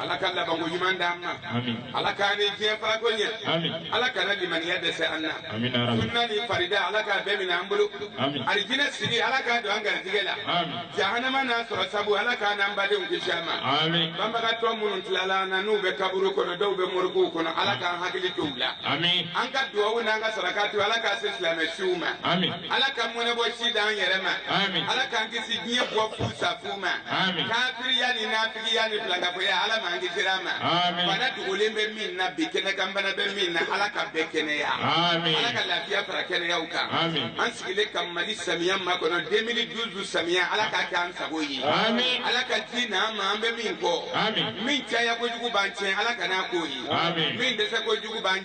ala ka labanko ɲuman d'an ma Amin. ala k'an ni diɲɛ farako ɲɛ Amin. ala kana limaniya dɛsɛ an na Amin, ya Rabbi. sunna ni farida ala k'a bɛɛ minɛ an bolo Amin. alijinɛ sigi ala k'a don an garijigɛ la Amin. jahanama n'a sɔrɔ sabu ala k'an n'an badenw kisi a ma Amin. banbagatɔ minnu tilala an na n'u bɛ kaburu kɔnɔ dɔw bɛ morigow kɔnɔ ala k'an hakili t'u la Amin. an ka duwawu n'an ka sarakati ala k'a se silamɛ suw ma Amin. ala ka mɔnɛbɔ si d'an yɛrɛ ma Amin. ala k'an kisi diɲɛ bɔ fu sa fu ma Amin. kafiriya ni nafigiya ni filankafoya ala m'an kisir'a ma Amin. bana dogolen bɛ min na bi kɛnɛ kan bana bɛ min na ala ka bɛɛ kɛnɛya Amin. ala ka lafiya fara kɛnɛyaw kan Amin. an sigilen ka mali samiya makɔnɔ 2012 samiya ala k'a kɛ an sago ye Amin. ala ka ji n'an ma an bɛ min kɔ Amin. min caya kojugu b'an tiɲɛ ala kan'a k'o ye Amin. min dɛsɛ kojugu b'an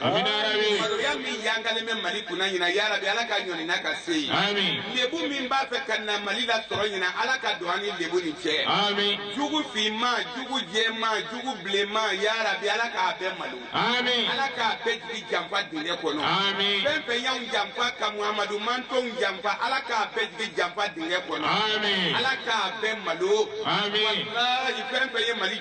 Amina yarabi. Maloya min yangalen bɛ Mali kunna ɲina yarabi Ala k'a ɲɔni n'a ka se ye. Ami. Lebu min b'a fɛ ka na Mali lasɔrɔ ɲina Ala ka don an ni lebu ni cɛ. Ami. Jugu finman, jugu jɛman, jugu bilenman yarabi Ala k'a bɛɛ malo. Ami. Ala k'a bɛɛ jigi janfa dingɛ kɔnɔ. Ami. Fɛn fɛn y'anw janfa ka Muhamadu mantɔnw janfa Ala k'a bɛɛ jigi janfa dingɛ kɔnɔ. Ami. Ala k'a bɛɛ malo. Ami. Walahi fɛn fɛn ye Mali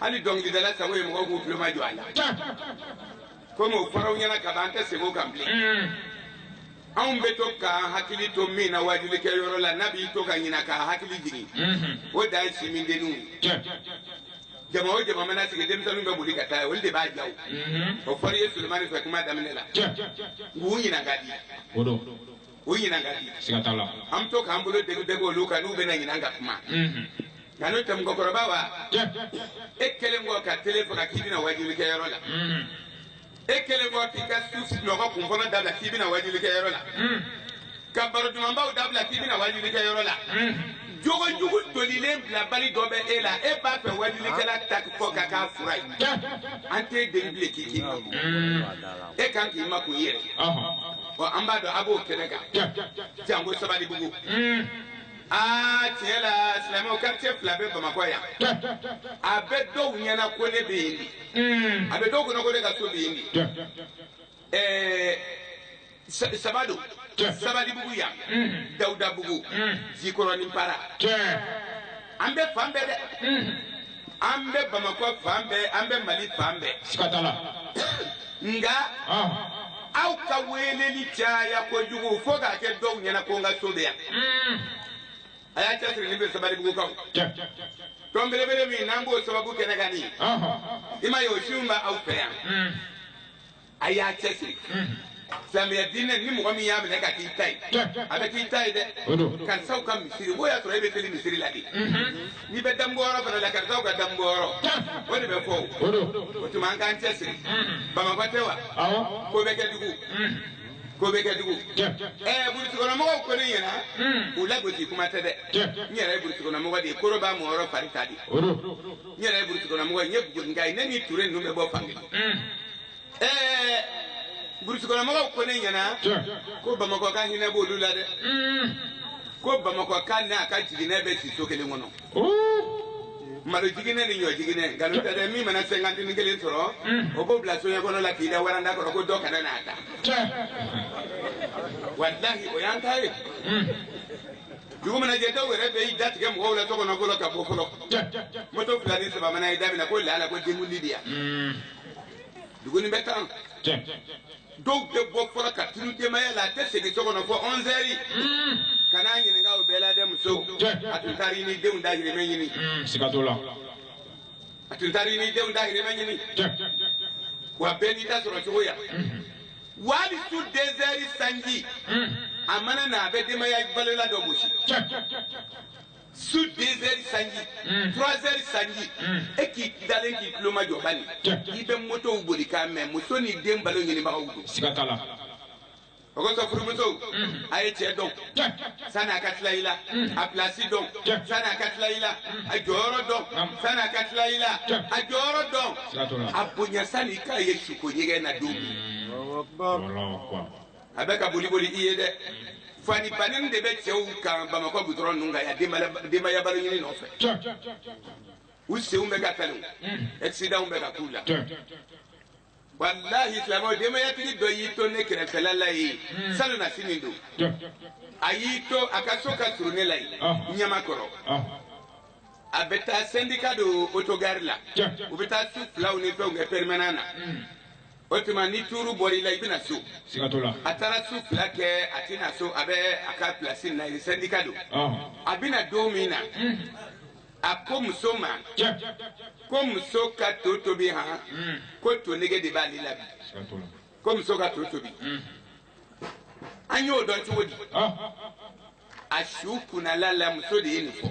hali dɔnkilidala sago ye mɔgɔw k'u tulomajɔ a la komi o fɔr'aw ɲɛna ka ban an tɛ segin o kan bilen mm. anw bɛ to k'an hakili to min na waajilikɛyɔrɔ la n'a bɛ to ka ɲina k'a hakili jigin mm-hmm. o dan ye sinmindenninw ye jama o jama mana sigi denmisɛnninw bɛ boli ka taa olu de b'a jaw mm-hmm. o fɔra i ye sulemani fɛ kuma daminɛ la k'u ɲina ka di u ɲinan ka di siga t'a la an bɛ to k'an bolo degu degu olu kan n'u bɛna ɲinan ka kuma mhm. nka n'o tɛ mɔgɔkɔrɔba wa e kɛlen kɔ ka tele faga k'i bɛ na wajulikɛyɔrɔ la mhm. e kɛlen kɔ k'i ka su sunɔgɔ kun fɔlɔ dabila k'i bɛ na wajulikɛyɔrɔ la mhm. ka baro dumanbaw dabila k'i bɛ na wajulikɛyɔrɔ la jogo jugu tolilen bilabali dɔ bɛ e la e b'a fɛ wajulikɛla ta kɔ ka k'a fura ye an t'e deli bilen k'i k'i e kan k'i makun i yɛrɛ ɔ an b'a dɔn a b'o kɛnɛ kan janko sabalibugu aa tiɲɛ la silamɛw quartier fila bɛ bamakɔ yan a bɛ dɔw ɲɛna ko ne bɛ yen de a bɛ dɔw kɔnɔ ko ne ka so bɛ yen de ɛɛ sa- saba don sabalibugu yan dawudabugu jikɔrɔnin para an bɛ fan bɛɛ dɛ an bɛ bamakɔ fan bɛɛ an bɛ mali fan bɛɛ siga t'a la nka aw ka weleli caya kojugu fo k'a kɛ dɔw ɲɛna ko n ka so bɛ yan a y'a cɛsiri ni bɛ sabalibugukaw tɔn belebele min n'an b'o sababu kɛnɛ kan nin i m'a ye o siw bɛ aw fɛ yan a y'a cɛ siri silamɛya diinɛ ni mɔgɔ min y'a minɛ k'a k'i ta ye a bɛ k'i ta ye dɛ karisaw ka misiri o y'a sɔrɔ e bɛ seli misiri la de n'i bɛ damuguyɔrɔ fana la karisaw ka damuguyɔrɔ o de bɛ fɔ o tuma an k'an cɛ siri bamakɔ tɛ wa ko bɛɛ kɛ dugu ko bɛɛ kɛ dugu ɛɛ burusikɔnɔmɔgɔw ko ne ɲɛna u lagosi kuma tɛ dɛ n yɛrɛ ye burusikɔnɔmɔgɔ de ye koro b'a mɔyɔrɔ fari ta de n yɛrɛ ye burusi kɔnɔ mɔgɔ ye n ye buguninka ye ne ni ture ninnu bɛ bɔ fankelen ɛɛ burusi kɔnɔ mɔgɔw ko ne ɲɛna ko bamakɔka hinɛ b'olu la dɛ ko bamakɔka n'a ka jiginɛ bɛ si so kelen kɔnɔ malo jiginɛ ni ɲɔ jiginɛ nkalon tɛ dɛ min mana sɛnkantini kelen sɔrɔ o b'o bila soɲɛ kɔnɔ la k'i da waranda kɔrɔ ko dɔ kana n'a ta walahi o y'an ta ye dugu mana jɛ dɔw yɛrɛ bɛ i da tigɛ mɔgɔw la tɔgɔ nɔgɔ la ka bɔ fɔlɔ moto fila ni saba mana i da minɛ ko lala ko denkundi de yan hmm. dugu nin bɛ tan dɔw bɛ bɔ fɔlɔ ka tunun denbaya la a tɛ segin so kɔnɔ fɔ ɔnzɛri hmm. kan'a ɲininka o bɛɛ la dɛ muso a tun taara i ni denw dahirimɛ ɲini hmm, siga t'o la a tun taara i ni denw dahirimɛ ɲini wa bɛɛ n'i ta sɔrɔ cogoya wa hali su dezɛri sanji hmm. a mana na a bɛ denbaya balola dɔ gosi su dezɛri sanji hmm. turazɛri sanji hmm. e k'i dalen k'i tulomajɔ bani i bɛ motow boli k'a mɛn muso ni den balo ɲinibagaw don siga t'a la o kosɔn furumusow a ye cɛ dɔn sani a ka tila i la a pilasi dɔn sani a ka tila i la a jɔyɔrɔ dɔn sani a ka tila i la a jɔyɔrɔ dɔn a bonya sani i k'a ye suko ɲɛgɛn na don min a bɛ ka boli boli i ye dɛ fani banin de bɛ cɛw kan bamakɔ gudɔrɔn ninnu kan yan denbaya- denbaya balo ɲini nɔfɛ u senw bɛ ka kari akisidanw bɛ ka k'u la walahi silamɛw denbayatigi dɔ y'i to ne kɛrɛfɛla la yen hmm. salonnasini don a y'i to a ka so ka surun ne la yen ah. ɲamakɔrɔ ah. a bɛ taa sɛndika don otogari la u bɛ taa su filaw ni fɛnw kɛ pɛrimɛnan na hmm. o tuma ni tuuru bɔra i la i bɛ na so a taara su fila kɛ a tɛ na so a bɛ a ka pilasi na yen sɛndika don ah. a bɛ na don min na hmm. a ko muso ma ko muso ka to tobi han mm. ko to nege de b'ale la bi ko muso ka to tobi mm. an y'o dɔn cogo di ah. a su kunnala la muso de ye nin fɔ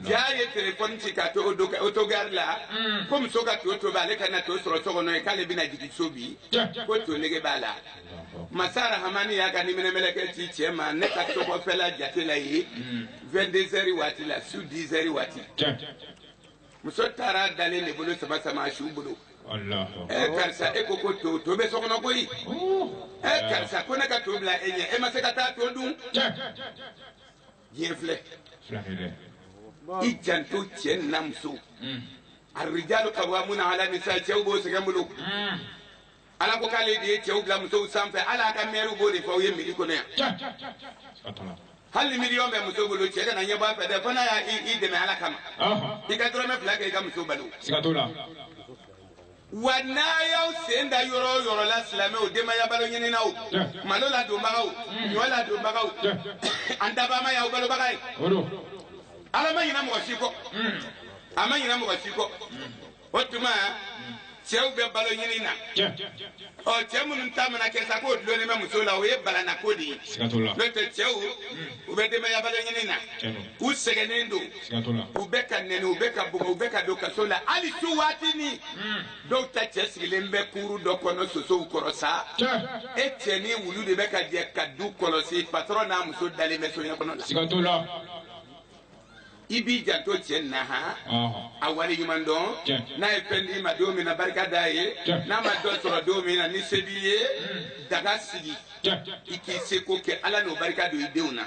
jaa a ye telefɔni ci k'a to otogari la mm. ko muso ka to tobi ale ka na to sɔrɔ so kɔnɔ yen k'ale bɛna jigin so bi ko to nege b'a la masa rahamani y'a ka niminɛmɛlɛkɛ ci cɛ ma ne ka tɔgɔfɛla jate la ye 22 heures waati la su 10 heures waati muso taara dalen de bolo sama sama su bolo ɛ karisa e ko ko to to bɛ so kɔnɔ koyi ɛ karisa ko ne ka to bila e ɲɛ e ma se ka taa to dun diɲɛ filɛ i janto cɛ nin na muso arijalu kawamuna ala nisa cɛw bɛ sɛgɛn bolo ala ko k'ale de ye cɛw bila musow sanfɛ hali aw ka mɛriw b'o de fɔ aw ye mɛri kɔnɔ yan hali ni miliyɔn bɛ muso bolo cɛ kana ɲɛ bɔ a fɛ dɛ fo n'a y'a i i dɛmɛ ala kama i ka dɔrɔmɛ fila kɛ i ka muso balo wa n'a y'aw sen da yɔrɔ o yɔrɔ la silamɛw denbaya balo ɲininaw malo ladonbagaw ɲɔ ladonbagaw an dabaa ma y'aw balobaga ye ala ma ɲina mɔgɔ si kɔ a ma ɲina mɔgɔ si kɔ o tuma cɛw bɛ balo ɲini na ɔ cɛ minnu ta mana kɛ sa k'o dulonnen bɛ muso la o ye balana ko de ye n'o tɛ cɛw u bɛ denbaya balo ɲini na u sɛgɛnnen don u bɛ ka nɛni u bɛ ka bugɔ u bɛ ka don kaso la hali su waati ni dɔw ta cɛ sigilen bɛ kuuru dɔ kɔnɔ sosow kɔrɔ sa e cɛ ni wulu de bɛ ka jɛ ka du kɔlɔsi patɔrɔn n'a muso dalen bɛ soɲɛ kɔnɔ la. i b'i janto cɛ na han a wale ɲuman dɔn n'a ye fɛn d'i ma don min na barika d'a ye n'a ma dɔ sɔrɔ don min na ni se b'i ye hmm. daga sigi i k'i seko kɛ ala n'o barika don i denw na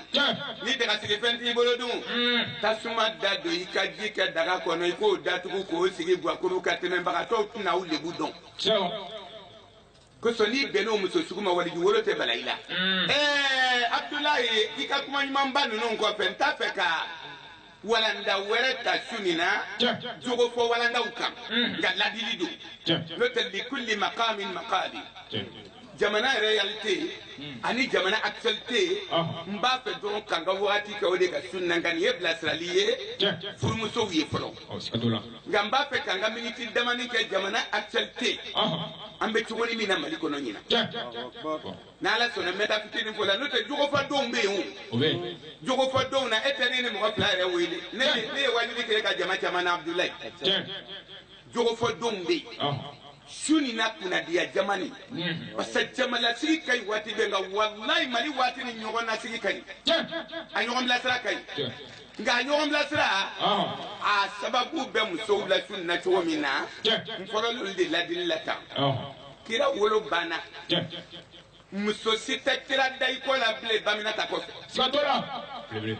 ni dagasigifɛn t'i bolo dun hmm. tasuma dadon i ka ji kɛ daga kɔnɔ i k'o datugu k'o sigi guwakuru kan tɛmɛbagatɔw tɛna aw lebu dɔn kosɔn n'i bɛnn'o muso sugu ma waliju wolo tɛ bala i la ɛɛ abudulayi i ka kuma ɲumanba ninnu kɔfɛ n t'a fɛ ka walanda wɛrɛ ta su nin na jogo fɔ walandaw kan nka ladili don n'o tɛ likuli makami makali jamana réalité ani jamana actualité n b'a fɛ dɔrɔn k'an ka waati kɛ o de kan su nin na nka nin ye bilasirali ye furumusow ye fɔlɔ ɔ siga t'o la nka n b'a fɛ k'an ka miniti damanin kɛ jamana actualité ɔhɔ an bɛ cogo nin min na mali kɔnɔ ɲinan tiɲɛ Akbar. n'ala sɔnna n bɛ n ta fitinin fɔ la n'o tɛ jogo fɔ don bɛ yen o o bɛ yen jogo fɔ don na e tɛ ne ni mɔgɔ fila yɛrɛ wele ne ye- ne ye waajuli kɛ ka jama caman na abudulayi tiɲɛ jogo fɔ don bɛ yen ɔhɔ su nin na kunnadiya jama ni Mhm. parce que jamalasigi ka ɲi waati bɛɛ nka walayi mali waati nin ɲɔgɔn nasigi ka ɲi tiɲɛ a ɲɔgɔn bilasira ka ɲi tiɲɛ nka ɲɔgɔn bilasira a sababu bɛ musow la su na cogo min na n fɔlɔl'olu de ladili la tan kira wolo banna muso si tɛ kira da i kɔ la bilen baminata kɔfɛ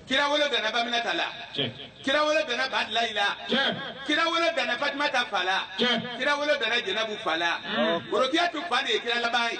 kira wolo danna baminata la kira wolo danna badilayi la kira wolo danna fatumata fa la kira wolo danna jɛnɛbu fa la worokiyatu fa de ye kira laban ye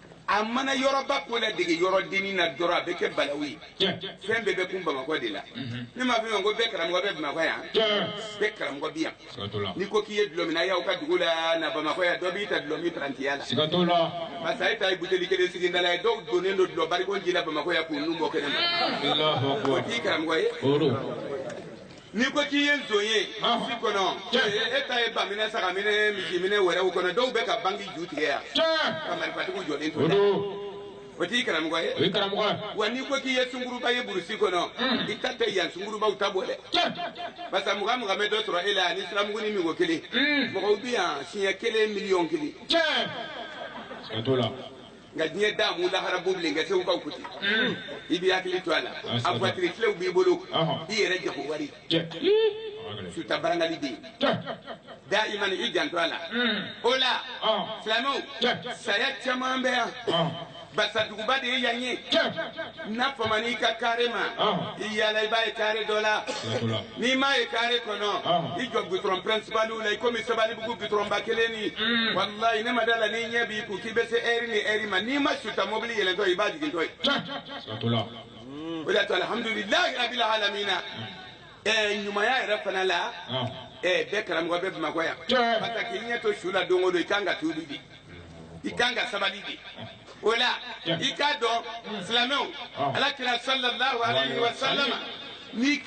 a mana yɔrɔba ko ladege yɔrɔ dennin na dɔrɔn a bɛ kɛ balawu ye fɛn bɛɛ bɛ kun bamakɔ de la mhm. ne m'a fɔ ko bɛɛ karamɔgɔ bɛ bamakɔ yan bɛɛ karamɔgɔ bi yan n'i ko k'i ye dulɔminna y'aw ka dugu la na bamakɔ yan dɔ b'i ta dulɔmin parantiya la parce que e ta ye buteli kelen sigi da la ye dɔw donnen don dulɔ barikon ji la bamakɔ yan k'u nun bɔ kɛnɛ ma o t'i karamɔgɔ ye n'i ko k'i ye nson ye burusi kɔnɔ e ta ye baminɛ sagaminɛ misiminɛ wɛrɛw kɔnɔ dɔw bɛ ka banki ju tigɛ yan ka marifatigiw jɔlen to o t'i karamɔgɔ ye o ye karamɔgɔ ye wa n'i ko k'i ye sunkuruba ye burusi kɔnɔ hmm. i ta tɛ yan sunkurubaw ta bɔ dɛ parce que mugan mugan bɛ dɔ sɔrɔ e la ani siramuguni min ko kelen hmm. mɔgɔw bɛ yan siɲɛ kelen miliyɔn kelen. nka diɲɛ daamu lahara b'u bilen nka segukaw ko ten i b'i hakili to a la a voiture clé b'i bolo i yɛrɛ jago wari suta barangali bɛ yen dayiman i janto a la o la silamɛw saya caman bɛ yan barisa duguba de ye yan ye n'a famana i ka kare ma i yaala i b'a ye kare dɔ la n'i m'a ye kare kɔnɔ i jɔ gutɔrɔn pɛrɛnsipaliw la i komi sabalibugu gutɔrɔnba kelen ni mm. walayi ne ma da a la n'i ɲɛ b'i kun k'i bɛ se ɛri ni ɛri ma n'i ma suta mɔbili yɛlɛntɔ i b'a jigintɔ ye mm. o de y'a to alihamudulilayi rabila alamina mm. ɛɛ ɲumanya yɛrɛ fana la ɛɛ bɛɛ karamɔgɔ bɛ bamakɔ yan parce que k'i ɲɛ to su la don o don i kan ka tuubi de i kan ka sabali de o la i k'a dɔn silamɛw ala kira sallallahu alayhi wa sallama ni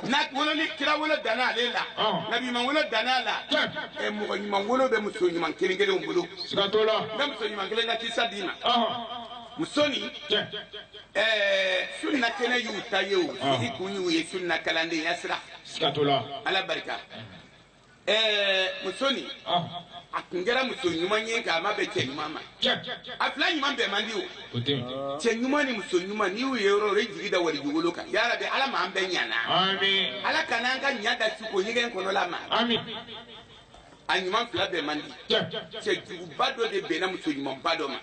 na wolo ni kira wolo danna ale la nabi ɲuman wolo danna a la ɛ mɔgɔ ɲuman wolo bɛ muso ɲuman kelen kelenw bolo n bɛ muso ɲuman kelen ka kisa d'i ma muso nin ɛɛ sunna kɛnɛ y'u ta ye o sigi kun y'u ye sunna kalandenya sira ala barika ɛɛ muso nin a tun kɛra muso ɲuman ye nka a ma bɛn cɛ ɲuman ma a fila ɲuman bɛn man di o cɛ ɲuman ni muso ɲuman n'i y'u ye yɔrɔ o yɔrɔ i jigi da waliju wolo kan yarabi ala m'an bɛɛ ɲana ala kana an ka ɲa da suko ɲɛgɛn kɔnɔla ma a ɲuman fila bɛn man di cɛ juguba dɔ de bɛnna muso ɲumanba dɔ ma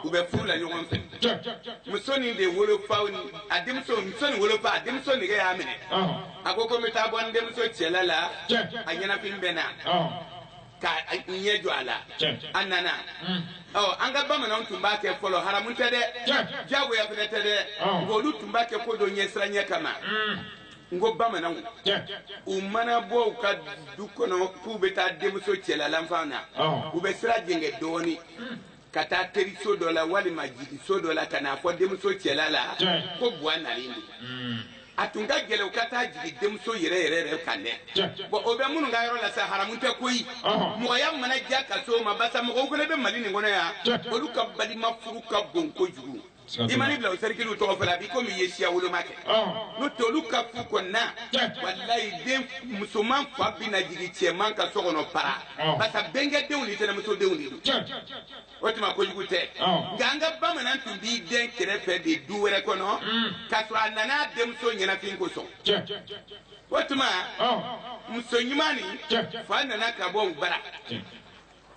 u bɛ furu la ɲɔgɔn fɛ muso nin de wolofa a denmuso muso nin wolofa a denmuso nege y'a minɛ a ko ko n bɛ taa bɔ n denmuso cɛla la a ɲɛnafin bɛ n na ka n ɲɛ jɔ a la a nana mm. ɔ an ka bamananw tun b'a kɛ fɔlɔ haramu tɛ dɛ diyagoya fɛnɛ tɛ dɛ nka olu tun b'a kɛ ko dɔ ɲɛsiranɲɛ kama mm. n ko bamananw u mana bɔ u ka du kɔnɔ k'u bɛ taa denmuso cɛla la fan na u bɛ sira jɛngɛ dɔɔnin mm. ka taa teriso dɔ la walima jigiso dɔ la ka n'a fɔ denmuso cɛla la ko buwa nalen don hmm. a tun ka gɛlɛn u ka taa jigin denmuso yɛrɛ yɛrɛ yɛrɛ kan dɛ bɔn o bɛ minnu ka yɔrɔ la sa haramu tɛ koyi mɔgɔya mana diya ka s'o ma basa mɔgɔw fana bɛ mali nin kɔnɔ yan olu ka balima furu ka bon kojugu i man'i bila o sɛrikiliw tɔgɔ fɔ la a b'i komi i ye siya woloma kɛ n'o tɛ olu ka furu kɔnɔna walayi den musoman fa bɛ na jigin cɛman ka so kɔnɔ para barisa bɛnkɛdenw ni tɛnɛmusodenw de don o tuma kojugu tɛ nka an ka bamanan tun b'i den kɛrɛfɛ de du wɛrɛ kɔnɔ k'a sɔrɔ a nana a denmuso ɲɛnafin kosɔn o tuma muso ɲuman nin fa nana ka bɔ u bara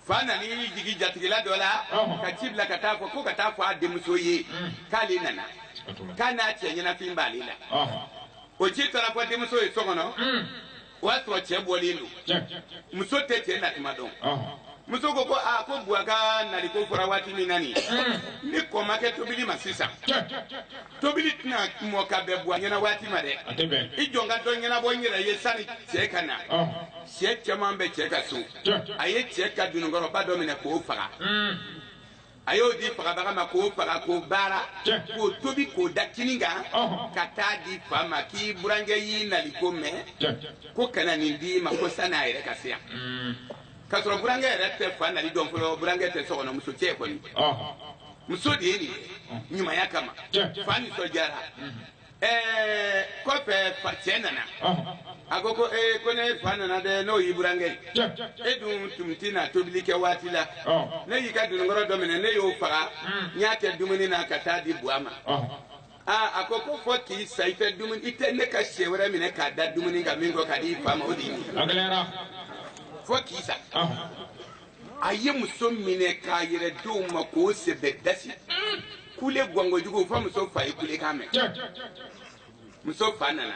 fa nan'i jigin jatigila dɔ la Ɔhɔn. ka ci bila ka taa fɔ ko ka taa fɔ a denmuso ye k'ale nana k'a n'a cɛ ɲɛnafin b'ale la Ɔhɔn. o ci taara fɔ denmuso ye so kɔnɔ Mm. o y'a sɔrɔ cɛ bɔlen don Tiɲɛ. muso tɛ cɛ natuma dɔn Ɔhɔn. muso ko ko aa ko buwa ka naliko fɔra waati min na nin ni kɔ ma kɛ tobili ma sisan Tiɲɛ. tobili tɛna mɔ ka bɛn buwa ɲɛna waati ma dɛ A tɛ bɛn. i jɔ n ka dɔ ɲɛnabɔ n yɛrɛ ye sani cɛ ka na Ɔhɔn. sɛ caman bɛ cɛ ka so a ye cɛ ka dununkɔrɔba dɔ minɛ k'o faga a y'o di fagabaga ma k'o faga k'o baara k'o tobi k'o da kini kan ka taa di fa ma k'i burankɛ y'i nali ko mɛn ko ka na nin d'i ma ko san'a yɛrɛ ka se yan k'a sɔrɔ burankɛ yɛrɛ tɛ fa nali dɔn fɔlɔ burankɛ tɛ so kɔnɔ muso cɛ kɔni muso de ye nin ɲumanya kama fa nisɔndiyara ɛɛ kɔfɛ fa cɛ nana a ko ko ee ko ne fa nana dɛ n'o y'i burankɛ ye e dun tun ti na tobili kɛ waati la ne y'i ka dununkɔrɔ dɔ minɛ ne y'o faga n y'a kɛ dumuni na ka taa di buwa ma aa a ko ko fɔ k'i sa i tɛ dumuni i tɛ ne ka sɛ wɛrɛ minɛ k'a da dumuni kan min kɔ ka di i fa ma o de ye a gɛlɛyara fo k'i sa a ye muso minɛ k'a yɛrɛ d'o ma k'o sɛbɛ dasi kule gwan kojugu fo muso fa ye kulekan mɛn muso fa nana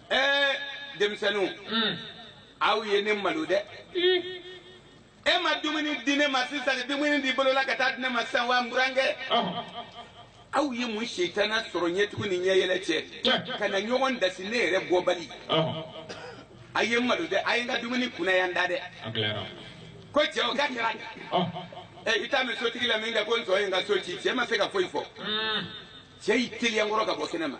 ɛɛ denmisɛnninw aw ye ne malo dɛ e ma dumuni di ne ma sisan dumuni di bolola ka taa di ne ma sisan wa n burankɛ aw ye mun sitana sɔrɔ ɲɛtugu ni ɲɛyɛlɛ cɛ ka na ɲɔgɔn dasi ne yɛrɛ bɔbali a ye n malo dɛ a ye n ka dumuni kunaya n da dɛ ko cɛ o ka kɛra i t'a mɛn sotigi la min kɛ ko nson ye n ka so ci cɛ ma se ka foyi fɔ cɛ y'i teliya kɔrɔ ka bɔ kɛnɛ ma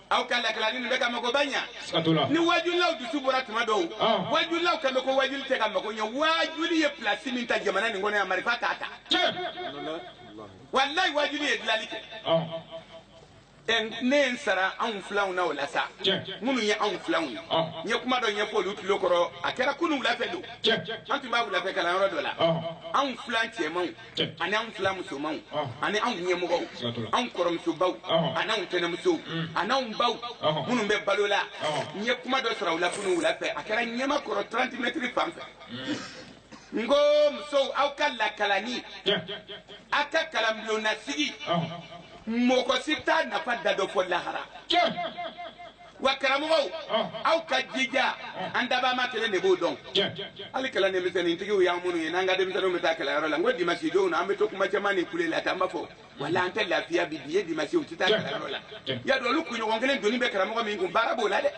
aw ka lakalanni nin bɛ ka mago ba ɲa Siga t'o la. ni wajulilaw dusu bɔra tuma dɔw Ah. wajulilaw kan bɛ ko wajuli tɛ ka mago ɲa wajuli ye pilasi min ta jamana nin kɔnɔ yan marifa t'a ta Tiɲɛ. walayi wajuli ye dilali kɛ Ɔn. Ɛ, ne ye n sara anw filanw na o la sa Tiɲɛ. minnu ye anw filanw ye Ah. n ye kuma dɔ ɲɛfɔ olu tulo kɔrɔ a kɛra kunu wulafɛ don Tiɲɛ. an tun b'a wulafɛ kalanyɔrɔ dɔ la Ah. anw filan cɛmanw ani anw filan musomanw ani anw ɲɛmɔgɔw anw kɔrɔmusobaw ani anw tɛnɛmusow ani anw baw minnu bɛ balo la n ye kuma dɔ sara u la kunu wula fɛ a kɛra ɲamakɔrɔ 30 mɛtiri fan fɛ n ko musow aw ka lakalanni aw ka kalanbulonnasigi mɔgɔ si t'a nafa dan dɔn fo lahara wa karamɔgɔw aw ka jija an dabaa ma kelen de b'o dɔn hali kalanden misɛnnintigiw y'an minnu ye n'an ka denmisɛnninw bɛ taa kalanyɔrɔ la n ko dimasi donw na an bɛ to kuma caman ni kule la tan an b'a fɔ wala an tɛ lafiya bi bi ye dimasi u tɛ taa kalanyɔrɔ la y'a dɔn olu kunɲɔgɔn kelen doni bɛ karamɔgɔ min kun baara b'o la dɛ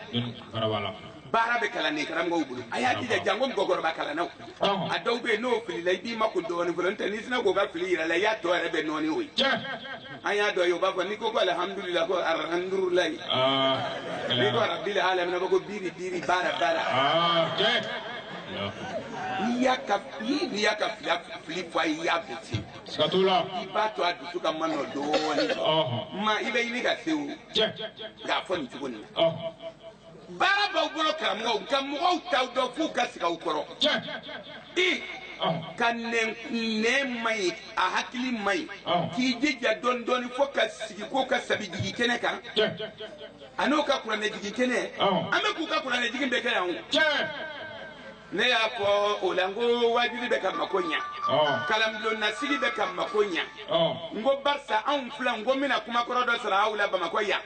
baara bɛ kalanden karamɔgɔw bolo a y'a jija janko mɔgɔkɔrɔba kalannaw a dɔw bɛ yen n'o filila i b'i makun dɔɔnin fɔlɔ n'o tɛ n'i sinna k'o ka fili yira a la i y'a tɔ yɛrɛ bɛɛ nɔɔni o ye an y'a dɔn ye o b'a fɔ n'i ko ko alihamudulila ko arahamudulayi n'i ko arabili alamina ko biri biri baara baara n'i y'a ka n'i y'a ka fila fili fɔ a ye i y'a bɛɛ tiɲɛ siga t'o la i b'a to a dusu ka ma nɔ dɔɔnin ma i bɛ ɲini ka se o nka a fɔ nin cogo nin na baara b'aw bolo karamɔgɔw nka mɔgɔw t'aw dɔn f'u ka sigi aw kɔrɔ i ka nɛn nɛn man ɲi a hakili man ɲi k'i jija dɔɔni dɔɔni fo ka sigi k'o ka sabi jigin kɛnɛ kan a n'o ka kuranɛ jigin kɛnɛ an bɛ k'u ka kuranɛ jigin bɛɛ kɛ yan o. ne y'a fɔ o la n ko wajuli bɛ ka mako ɲa kalanbulonnasigi bɛ ka mako ɲa n ko barisa anw filan n ko n bɛna kumakɔrɔ dɔ sara aw la bamakɔ yan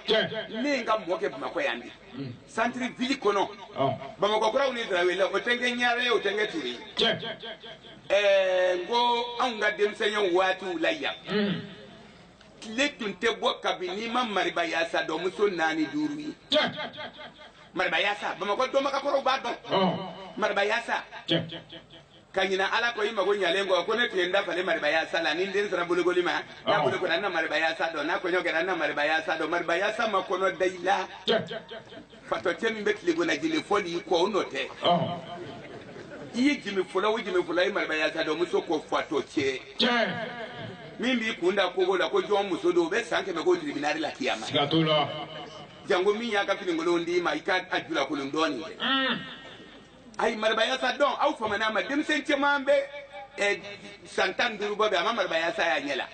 ne n ka mɔ kɛ bamakɔ yan bi mm. santiri vili kɔnɔ bamakɔ kuraw ni darawela o tɛ n kɛ ɲare ye o tɛ n kɛ ture ye n ko anw ka denmisɛnya waatiw la yan mm. tile tun tɛ bɔ ka bin n'i ma mariba yaasa dɔn muso naani duuru ye mariba yaasa bamakɔ dɔnbagakɔrɔw b'a dɔn mariba yaasa ka ɲina ala kɔ i mago ɲalen kɔ ko ne tun ye n da falen mariba yaasa la ni n den sera bolokoli ma n'a bolokora n na mariba yaasa dɔn n'a kɔɲɔ kɛra n na mariba yaasa dɔn mariba yaasa ma kɔnɔ da i la fatɔcɛ min bɛ tilegonajile fɔ n'i kɔ o nɔ tɛ i ye jimi fɔlɔ o jimi fɔlɔ i mariba yaasa dɔn muso ko fatɔcɛ min b'i kun da kogo la ko jɔn muso don o bɛ san kɛmɛ ko tiribinali la kiyama janko min y'a ka finikolon d'i ma i ka a ju lakolon dɔɔnin kɛ ayi marabayasa dɔn aw famana a ma denmisɛn caman bɛ eh, san tan ni duuru bɔ bi a ma marabayasa y'a ɲɛ la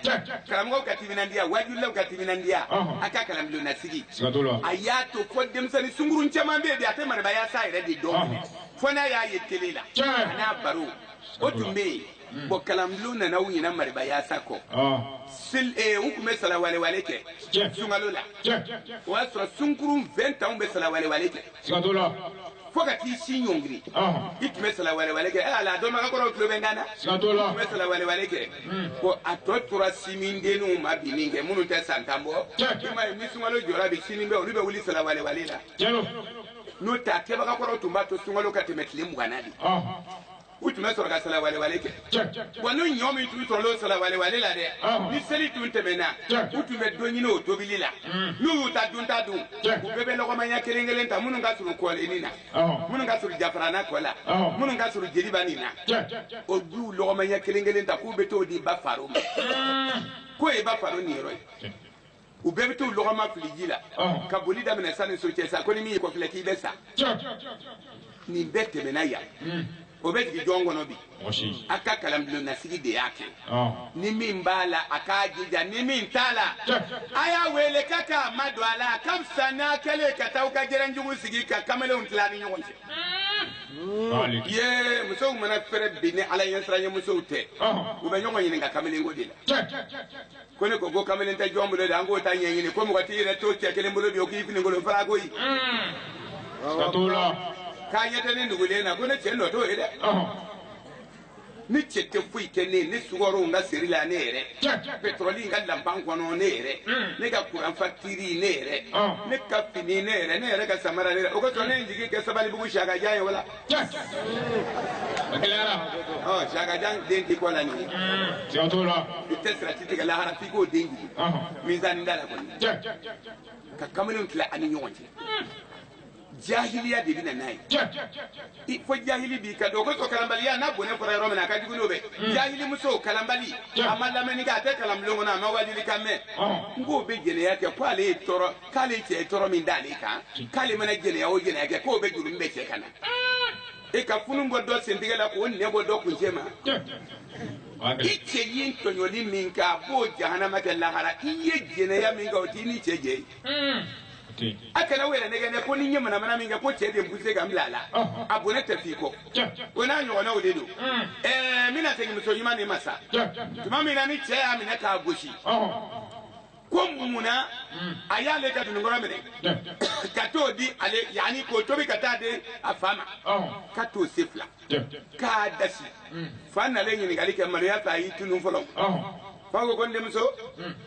karamɔgɔw ka timinandiya wajulilaw ka timinandiya Ɔhɔn. a ka kalanbulon na sigi siga t'o la a y'a to fo denmisɛnnin sunkurun caman bɛ yen bi a tɛ marabayasa yɛrɛ de dɔn Ɔhɔn. fo n'a y'a ye tele la Tiɲɛ. a n'a baro o tun bɛ yen bɔn kalanbulon nana u ɲinɛna marabayasa kɔ Ah, Sil- eh, u tun bɛ salawalewale kɛ Tiɲɛ. sunkalo la tiɲɛ o y'a sɔrɔ sunkurun 20 ans bɛ salawalewale kɛ Siga t'o la. Fo ka t'i sin ɲɔngiri. I tun bɛ salawalewale kɛ. Ee Ala dɔnbaga kɔrɔw tulo bɛ n kan na. Siga t'o la. I tun bɛ salawalewale kɛ. Ko a tɔ tora sinmindenninw ma bi nin kɛ minnu tɛ san tan bɔ. Tiɲɛ. I m'a ye ni sunkalo jɔra bi sini bɛ olu bɛ wuli salawalewale la. Tiɲɛ don. N'o tɛ a kɛbagakɔrɔw tun b'a to sunkalo ka tɛmɛ tile mugan na de. Ɔnhɔn. u tun bɛ sɔrɔ ka salawalewale kɛ Tiɲɛ. wa n'u ɲɔ min tun sɔrɔla o salawalewale la dɛ Ɔhɔn. ni seli tun tɛmɛna Tiɲɛ. u tun bɛ don ɲini o tobili la n'u y'u ta dun ta dun Tiɲɛ. u bɛɛ bɛ lɔgɔma ɲɛ kelen kelen ta minnu ka surun kɔlenni na Ɔhɔn. minnu ka surun Jafarana kɔ la Ɔhɔn. minnu ka surun jeliba nin na Tiɲɛ. o duw lɔgɔma ɲɛ kelen kelen ta k'u bɛ t'o di ba faro ma k'o ye ba faro niyɔrɔ ye u bɛɛ bɛ t'u lɔgɔma fili ji la Ɔn. ka boli daminɛ sani so cɛ sa ko ni min y'i kɔfilɛ k'i bɛ sa Tiɲɛ. nin bɛɛ tɛmɛna yan Hmm. o bɛ jigin jɔn kɔnɔ bi Mɔgɔ si. a ka kalanbulonnasigi de y'a kɛ Ɔn. ni min b'a la a k'a jija ni min t'a la Tiɲɛ. a y'a wele k'a k'a madon a la a ka fisa n'a kɛlen ka taa aw ka jɛrɛnjugu sigi ka kamalenw tila ni ɲɔgɔn cɛ Malik. ye musow mana fɛrɛ bi ni Ala ɲɛsiranya musow tɛ Ɔn. u bɛ ɲɔgɔn ɲininka kamalenko de la Tiɲɛ. ko ne ko ko kamalen tɛ jɔn bolo de an k'o ta ɲɛɲini ko mɔgɔ t'i yɛrɛ to cɛ kelen bolo bi o k'i finikolon fara koyi siga t'o la k'a ɲɛ tɛ ne nugulen na ko ne cɛ nɔ t'o ye dɛ ɔhɔn ne cɛ tɛ foyi kɛ ne ye ne sukaro n ka seri la ne yɛrɛ Cɛ. pɛtɔrɔli n ka lanpan kɔnɔ ne yɛrɛ Mm. ne ka kuran fakitiri ne yɛrɛ Ah. ne ka fini ne yɛrɛ ne yɛrɛ ka samara ne yɛrɛ o kosɔn ne ye n jigi kɛ Sabalibugu Siyaka jan ye wala Yes. O gɛlɛyara. Ɔ Siyaka jan den d'i kɔ la nin ye. Siga t'o la. I tɛ sirati tigɛ lahara f'i k'o den jigin. Mizani da la kɔni. Ka kamalenw tila a ni ɲɔgɔn cɛ. jahiliya de bɛ na n'a ye fo jahili b'i ka dɔn o kosɔn kalanbaliya n'a bɔnɛ fɔra yɔrɔ min na a ka jugu n'o bɛɛ hmm. jahili muso kalanbali a ma lamɛnni kɛ a tɛ kalanbulon kɔnɔ a ma wajuli kan mɛn n k'o bɛ jɛnɛya kɛ ko ale ye tɔɔrɔ k'ale cɛ ye tɔɔrɔ min d'ale kan k'ale mana jɛnɛya o jɛnɛya kɛ k'o bɛɛ jurumu bɛ cɛ kan na e ka funun bɔ dɔ sentigɛ la k'o nɛ bɔ dɔ kuncɛ ma i cɛ ye tɔɲɔli min kɛ a b'o jahanama kɛ lahara i ye jɛnɛya min kɛ o t'i ni cɛ jɛ ye a kana aw yɛrɛ nɛgɛn dɛ ko ni n ye manamana min kɛ ko cɛ de n puse ka n bila a la a bɔnɛ tɛ f'i kɔ o n'a ɲɔgɔnnaw de don ɛɛ n bɛna segin muso ɲuman de ma sa tuma min na ni cɛ y'a minɛ k'a gosi ko mun na a y'ale ka dununkɔrɔ minɛ ka t'o di ale yanni k'o tobi ka taa di a fa ma ka t'o se fila k'a dasi fa nalen ɲininkali kɛ maloya fɛ a y'i tunun fɔlɔ fa ko ko n denmuso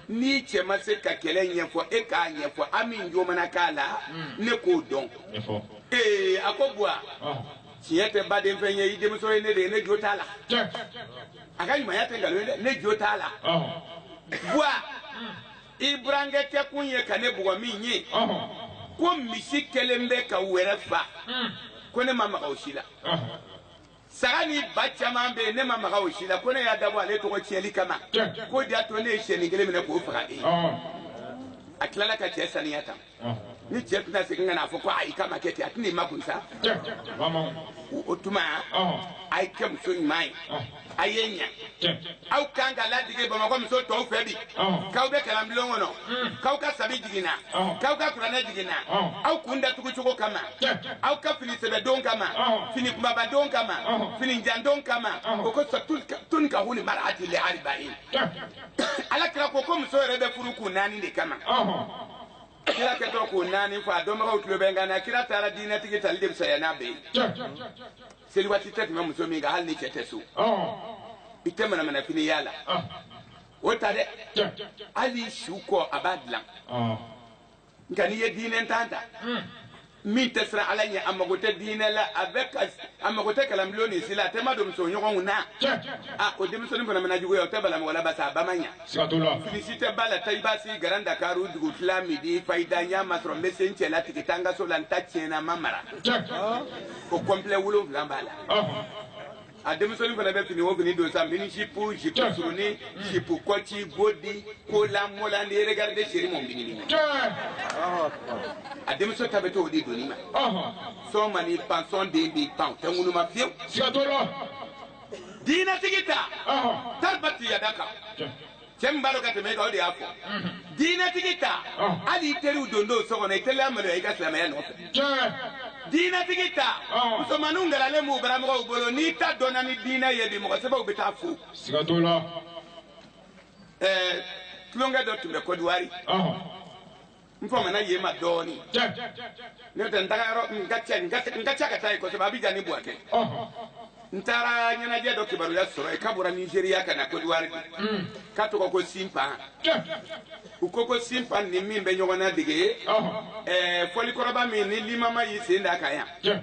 n'i cɛ ma se ka kɛlɛ ɲɛfɔ e k'a ɲɛfɔ an min jo mana k'a la ne k'o dɔn ee a ko buwa tiɲɛ tɛ baden fɛn ye i denmuso ye ne de ye ne jo t'a la Tiɲɛ. a ka ɲumanya tɛ nkalon ye dɛ ne jo t'a la Ɔhɔn. buwa i burankɛ kɛkun ye ka ne bugɔ min ye Ɔhɔn. ko misi kɛlen bɛ ka wɛrɛ fa Mm. ko ne ma maga o si la Ɔhɔn. saga ni ba caman bɛ yen ne ma maga o si la ko ne y'a dabɔ ale tɔgɔ tiɲɛli kama Tiɲɛ. k'o de y'a to ne ye siyɛnin kelen minɛ k'o faga e Ɔhɔn. a tilala ka cɛ saniya tan ni cɛ tɛna segin ka n'a fɔ ko ayi k'a ma kɛ ten a tɛna i makun sa o tuma a ye kɛ muso ɲuman ye a ye ɲɛ aw kan ka ladege bamakɔ muso tɔw fɛ bi k'aw bɛ kalanbulon kɔnɔ k'aw ka sabi jiginna k'aw ka kuranɛ jiginna aw kun datugu cogo kama aw ka fini sɛbɛ don kama fini kumaba don kama fini jan don kama o ko tunkahul marati li arba'in ala kira ko ko muso yɛrɛ bɛ furu kun naani de kama kira kɛtɔ k'o naani fɔ a dɔnbagaw tulo bɛ n kan na kira taara diinɛtigi tali de fisaya n'a bɛɛ ye seli waati tɛ tɛmɛ muso min kan hali ni cɛ tɛ so i tɛ manamanafini y'a la o ta dɛ hali suko a b'a dilan nka n'i ye diinɛntan ta min tɛ siran ala ɲɛ a mago tɛ diinɛ la a bɛ ka a mago tɛ kalanbulon nin si la a tɛ maa dɔn muso ɲɔgɔnw na a o denmusonin fana mana juguya o tɛ bala mɔgɔ la pasi a ba ma ɲa felisite ba la ta i b'a si garan dakaru dugu fila midi fayida n y'a masɔrɔ n bɛ se n cɛ la tigi taa n ka so la n ta tiɲɛna n ma mara o kɔnpilɛ wolonwula b'a la a denmusonin fana bɛ fini o fini don sa mini jipu jipu surunin jipu kɔci bodi kolan molan ni regaride seri mɔn bini ma a denmuso ta bɛ to o de donni ma sɔn man'i pan sɔn den b'i pan o tɛ ŋunuma fiyewu diinɛtigi ta taribati yadaka cɛ min b'a dɔn ka tɛmɛ e kan o de y'a fɔ diinɛtigi ta Ɔn. hali i teriw don don so kɔnɔ i tɛna maloya i ka silamɛya nɔfɛ tiɲɛ diinɛtigi ta Ɔn. musomaninw garalen b'u baramɔgɔw bolo n'i ta dɔnna ni diinɛ ye bi mɔgɔ sɛbɛw bɛ taa fo siga t'o la ɛɛ tulonkɛ dɔ tun bɛ kɔdiwari ɔhɔn n famana yen ma dɔɔni n'o tɛ n taga yɔrɔ n ka ca n ka ca ka taa yen kosɛbɛ abijan ni buwake n taara ɲɛnajɛ dɔ kibaruya sɔrɔ yen k'a bɔra nizeriya ka na kɔdiwari mm. k'a tɔgɔ ko sinpan u ko ko sinpan ni min bɛ ɲɔgɔn ladege fɔlikɔrɔba min ni limama y'i sen d'a kan yan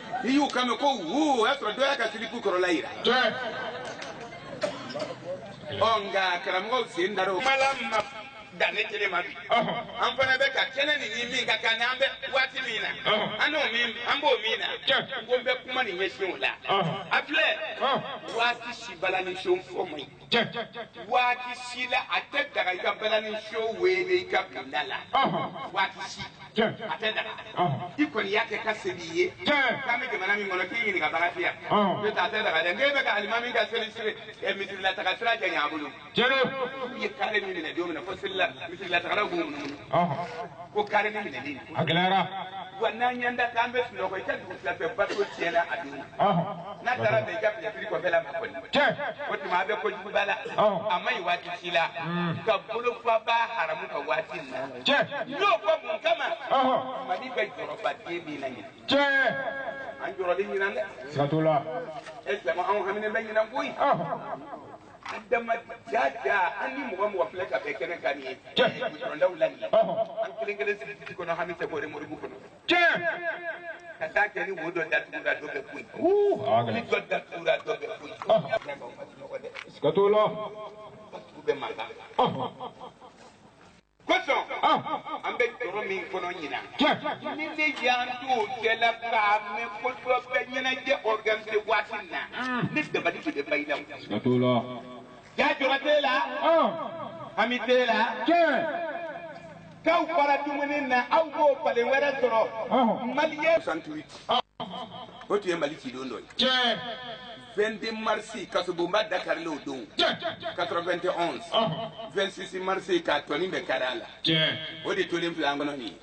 n'i y'u kan mɛn ko wuu o y'a sɔrɔ dɔ y'a ka silipu kɔrɔla yira ɔ nka karamɔgɔw sen dar'o kan. mala ma dan ne kelen ma bi an fana bɛ ka kɛnɛ nin ni min ka kan n'an bɛ waati min na an n'o min an b'o min na ko n bɛ kuma nin ɲɛsin o la a filɛ waati si balani so fɔ man ɲi. waati si la a tɛ daga i ka balani so weele i ka bila la waati si a tɛ daga i kɔni y'a kɛ ka seli i ye k'an bɛ jamana min kɔnɔ k'i ɲininkabaga tɛ yan n'o tɛ a tɛ daga dɛ n'e bɛ ka alimami ka seli siri misirilataga sira janya a bolo i ye kare min minɛ don min na ko selila misirilatagala b'o minɛ ko kare min minɛlen a gɛlɛyara wa n'an y'an da k'an bɛ sunɔgɔ i ka dugutila fɛ bato tiɲɛna a dun n'a taara bɛn i ka finɛtiri kɔfɛ la ma kɔni o tuma a bɛ kojuguba la a man ɲi waati si la ka bolofaba haramu ka waati na n'o fɔ mun kama mali bɛ jɔrɔba de min na ɲinan an jɔrɔlen ɲinan dɛ siga t'o la e jama anw haminen bɛ ɲinan koyi an dama jaja an ni mɔgɔ mɔgɔ filɛ ka bɛn kɛnɛ kan nin ye gudɔrɔndaw la nin ye an kelen kelen sigi titi kɔnɔ hami tɛ bɔre moribu kɔnɔ ka taa kɛ ni wo dɔ datugura dɔ bɛ kun ni dɔ datugura dɔ bɛ kun siga t'o la batugu bɛ mankan kosɔn an bɛ jɔrɔ min kɔnɔ ɲinan ni ne y'an t'o cɛ la k'a mɛn ko dɔ bɛ ɲɛnajɛ organise waati min na ne dabali de bɛ ban i la o. Ja jɔrɔ t'e la hami t'e la k'aw fara dumuni na aw b'o falen wɛrɛ sɔrɔ maliyɛn. 68 o tun ye mali cidon dɔ ye. 22 marisi kasobonba da karila o don 91 26 marisi k'a tɔ nin bɛɛ kari a la o de tolen filɛ an kɔnɔ nin ye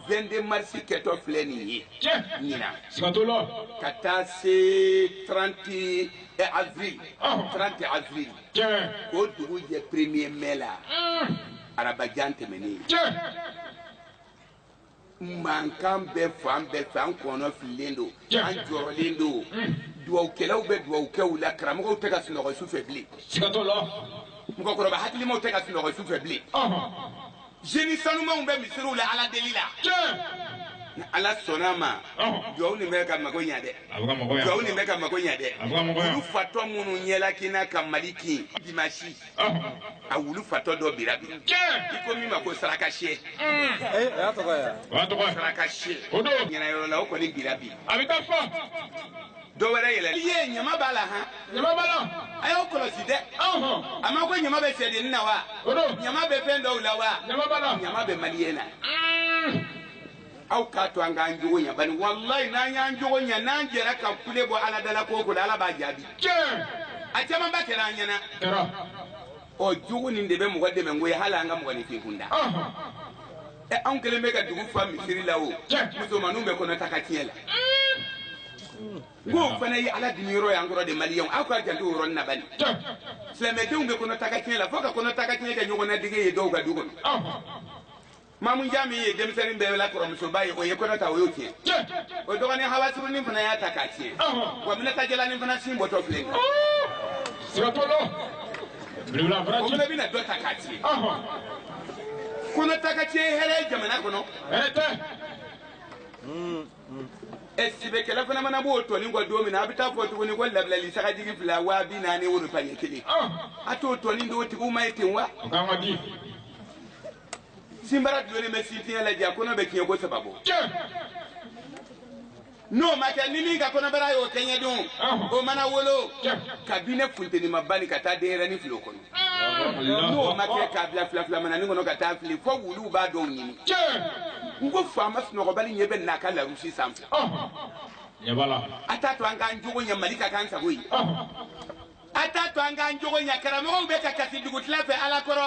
22 marisi kɛtɔ filɛ nin ye ɲinan siga t'o la ka taa se 30 eh, avril 30 avril k'o dugu jɛ premier mai la arabajan tɛmɛnen ye mankan bɛ fan bɛɛ fɛ an kɔnɔ fililen don an jɔrɔlen don dugawukɛlaw bɛ dugawukɛ la karamɔgɔw tɛ ka sunɔgɔ su fɛ bilen mɔgɔkɔrɔba hakilimaw tɛ ka sunɔgɔ su fɛ bilen jeni sanumanw bɛ misiriw la ala deli la ni ala sɔnna ma dugawu nin bɛ ka mago ɲɛ dɛ dugawu nin bɛ ka mago ɲɛ dɛ wulu fatɔ minnu ɲɛlakina ka mali kin dimasi a wulu fatɔ dɔ bira bi i ko min ma ko saraka siyɛ saraka siyɛ ɲɛnayɔrɔ la o kɔni bira bi dɔ wɛrɛ yɛlɛ i ye ɲama b'a la han a y'o kɔlɔsi dɛ a ma ko ɲama bɛ sɛdenni na wa ɲama bɛ fɛn dɔw la wa ɲama bɛ maliyɛn na aw k'a to an k'an jogo ɲa bari walayi n'an y'an jogo ɲa n'an jɛra ka kule bɔ ala da la ko o ko la ala b'a jaabi tiɲɛ a camanba kɛra an ɲɛna kɛra ɔ jogo nin de bɛ mɔgɔ dɛmɛ ko ye hali an ka mɔgɔninfin kunda ɔhɔn ɛ anw kelen bɛ ka dugu fa misiri la o tiɲɛ musomaninw bɛ kɔnɔ ta ka tiɲɛ la ko o fana ye ala dimi yɔrɔ y'an kɔrɔ de maliyɛnw aw ka janto o yɔrɔnin na bani tiɲɛ silamɛdenw bɛ kɔnɔ ta ka tiɲɛ la fo ka kɔnɔ ta ka tiɲɛ kɛ ɲɔgɔn na dege ye dɔw ka du kɔnɔ ɔhɔn mamu jami ye denmisɛnnin bɛɛ la kɔrɔmusoba ye o ye kɔnɔ ta o y'o tiɲɛ o dɔgɔnin hawasurunin fana y'a ta k'a tiɲɛ wa minata jalanin fana sin bɔtɔ filɛ o fana bɛna dɔ ta k'a tiɲɛ kɔnɔta ka tiɲɛ hɛrɛ ye jamana kɔnɔ sɛbɛkɛla fana mana b'o tɔnin kɔ don min na a bɛ taa fɔ tuguni ko labilali sagajigi fila waa bi naani woro paɲɛ kelen a t'o tɔnin d'o tigiw ma ye ten wa sinbara dulonnen bɛ sentiri la ja a kɔnɔ bɛ tiɲɛko saba bɔ n'o ma kɛ ni min ka kɔnɔbara y'o kɛɲɛ don o mana wolo kabini funteni ma bani ka taa denyɛrɛnin fili wo kɔnɔ n'o ma kɛ k'a bila filafilamananin kɔnɔ ka taa fili fo wuluw b'a dɔw ɲimi n ko faama sunɔgɔbali ɲɛ b'an na a ka larusi sanfɛ a t'a to an k'an jogo ɲɛ mali ka k'an sago ye a t'a to an k'an jogo ɲa karamɔgɔw bɛ ka kasi dugutila fɛ ala kɔrɔ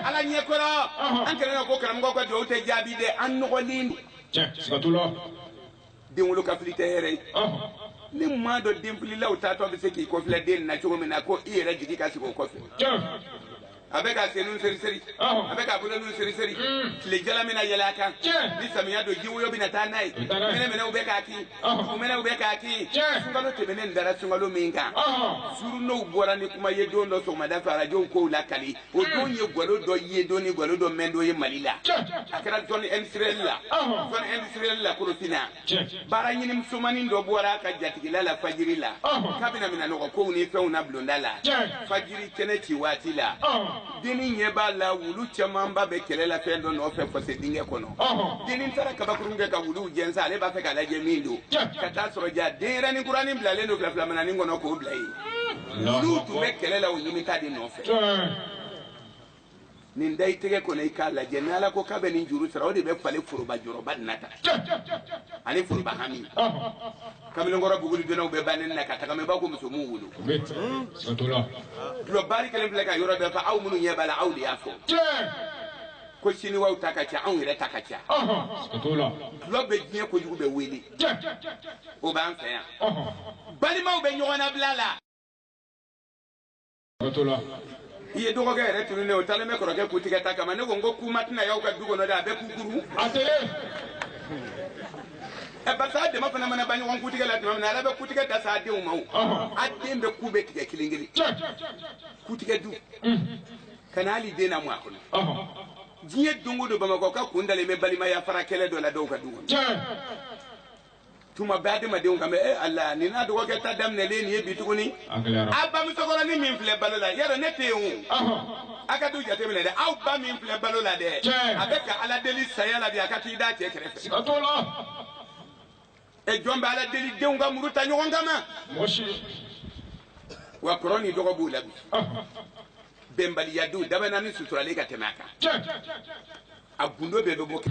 ala ɲɛ kɔrɔ an kɛlen kɔ ko karamɔgɔw ka dugawu tɛ jaabi dɛ an nɔgɔlen don siga t'a la den wolo ka fili tɛ hɛrɛ ye ni maa dɔ denfililaw taatɔ bɛ se k'i kɔfilɛ den na cogo min na ko i yɛrɛ jigi ka sigi o kɔfɛ a bɛ ka senninw seriseri a bɛ ka boloninw seriseri tile jalan bɛna yɛlɛ a kan ni samiya don jiwoyo bɛna taa n'a ye mɛnɛmɛnɛw bɛ k'a kin mɛnɛw bɛ k'a kin sunkalo tɛmɛnen dara sunkalo min kan journaux bɔra ni kuma ye don dɔ sɔgɔmada fɛ arajow k'o lakali o don ye gwalo dɔ ye don ni gwalo dɔ mɛn don ye mali la a kɛra zone industrielle la zone industrielle la korofina baaraɲini musomanin dɔ bɔra a ka jatigila la fajiri la k'a bɛna minɛnnɔgɔkow ni fɛnw na bulonda la fajiri kɛnɛ ci waati la dennin ɲɛ b'a la wulu camanba bɛ kɛlɛ la fɛn dɔ nɔfɛ fɔse dingɛ kɔnɔ dennin taara kabakurun kɛ ka wuluw jɛnsɛn ale b'a fɛ k'a lajɛ min don ka taa sɔrɔ ja denyɛrɛnin kuranin bilalen don filafilamananin kɔnɔ k'o bila yen wuluw tun bɛ kɛlɛ la o ɲimita de nɔfɛ nin da i tɛgɛ kɔnɔ i k'a lajɛ ni ala ko k'a bɛ nin juru sara o de bɛ falen foroba jɔrɔba nin na tan ani foroba hami kamalenkɔrɔ bugulidonnaw bɛ bannen na ka tagama i b'a ko muso m'u wolo dulɔ baari kelen filɛ ka yɔrɔ bɛɛ fa aw minnu ɲɛ b'a la aw de y'a fɔ ko siniwaw ta ka ca anw yɛrɛ ta ka ca dulɔ bɛ diɲɛ kojugu bɛɛ wele o b'an fɛ yan balimaw bɛ ɲɔgɔn nabila la Bato la. i ye dɔgɔkɛ yɛrɛ tununnen o talen bɛ kɔrɔkɛ kutigɛ ta kama ne ko n ko kuma tɛna y'aw ka du kɔnɔ dɛ a bɛɛ kukurun a tɛ ye ɛ barisa a dama fana mana ban ɲɔgɔn kutigɛ la tuma min na ala bɛ kutigɛ da sa a denw ma o a den bɛɛ ku bɛ tigɛ kelen kelen kutigɛ du kana hali den lamɔ a kɔnɔ diɲɛ don o don bamakɔkaw kun dalen bɛ balimaya fara kɛlɛ dɔ la dɔw ka du kɔnɔ tuma bɛɛ adamadenw kan bɛ e ala nin n'a dɔgɔkɛ ta daminɛlen nin ye bi tuguni a bamusokɔrɔnin min filɛ balo la yɛrɛ ne tɛ yen o a ka du jateminɛ dɛ aw ba min filɛ balo la dɛ a bɛ ka ala deli saya la bi a ka t'i da cɛ kɛrɛfɛ e jɔn bɛ ala deli denw ka muru ta ɲɔgɔn kama wa kɔrɔ ni dɔgɔ b'u la bi bɛnbaliya du dabanani suturalen ka tɛmɛ a kan a gundo bɛɛ bɛ bɔ